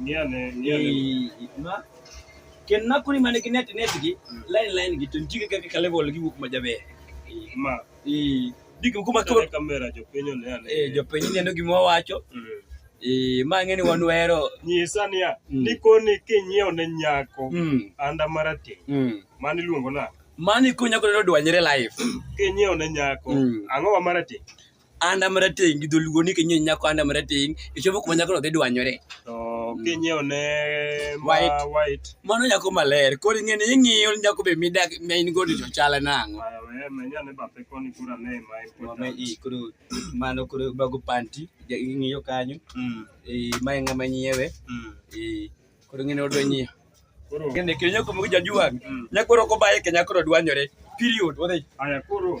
Niane, niane. Ma ken na kuni mane ki net net gi line line gi tun jige kaka level gi wuok ma jabe. Ma. Eh, digi kuma ko kamera jo penyo ne ane. Eh, jo penyo ne gi mo wacho. Mm. Eh, ma ngeni wan wero. Nyisa niya, mm. ni koni kinyiew ne nyako. Mm. Anda marati. Mm. Mani luongo na. Mani kunya ko dwanyre live. Kinyiew ne nyako. Mm. Ango wa marati. Anda marateng' gi dholuo ni kinyiewo nyako anda marateng' ichopo kuma nyakono dhi dwanyore. To kinyiewo ne ma White. white. Mano nyako maler. Koro ing'e ni ing'iyo nyako be midak ma in godo to chale nang'o. Aya, we, menya ne bathe koni kura ne ma e Mama puta. i koro mano koro bago panti ja- ing'iyo kanyo. Mm, Eh, ma en ng'ama nyiewe. mm. Eh, koro ing'e ni odwa nyiewo. Koro, Ng'e kendo nyako moko jajuang'. Mm. Nyako roko baye ke nyako dwanyore. Period. Wadhi. aya koro,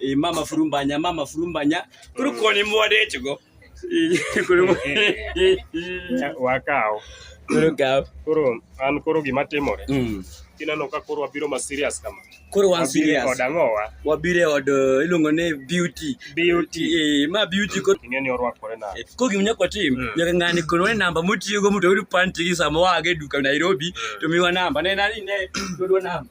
Eh, mama furumbanya mama furumbanya kuri mm. koni mwade chigo kuri wakao kuri kao kuri an kuri gima timore mm. kineno ka kuri wabiro ma serious kama kuri wan serious od ang'owa wabire od eh, iluongo ni beauty beauty eh ma beauty ko ing'e ni orwakore na eh, ko gim nyako tim mm. nyaka ng'ani kono ne namba motiyo go moto yud panti gi sama wage duka Nairobi to miwa namba ne nani ne yudwa namba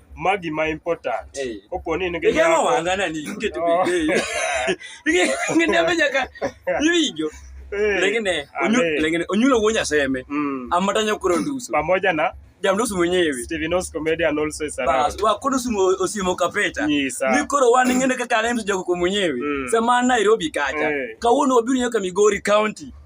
ma gima important Eh. kopo ni in gi Igeng'o nyako wanga nani? Iketo Oh. bende. Ng'ende ame nyaka iwinjo. eh, Lengine onyu Amen. lengine onyulo wuo nyaseme. mm, Amata nyokoro nduso. pamoja na Jamduso mwenyewe. Steven Os comedian also is around Bas wa kono sumo osimo kapeta. nyisa Ni koro wan ng'ende kaka aneno jogo mwenyewe. Mm. Sama an Nairobi kacha. Eh. Kawuono wabiro nyaka Migori County.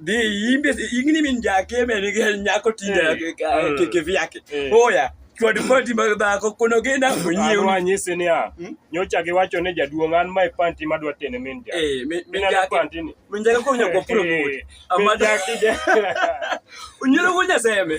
dhi imbe ingni min jakeme ni gel nyako tinde keke vyake oya chwad panti mag dhako kono genda onyiew wa nyisi ni a hmm? nyocha gi wacho ne jaduong an mai panti ma dwa tene min ja eh min ja panti ni min ja ko nyako puro mut amada kide unyiro gunya seme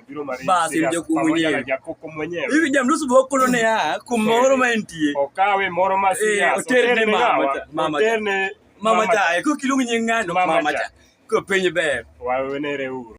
basi mja kuwa mwenyewe hivi jamrusu bokolo ne ya kumoro mantie okawe moro masia eh, oterne mama mama mama cha ko kilungu nying'ano mama cha ko penye ber wawenere uru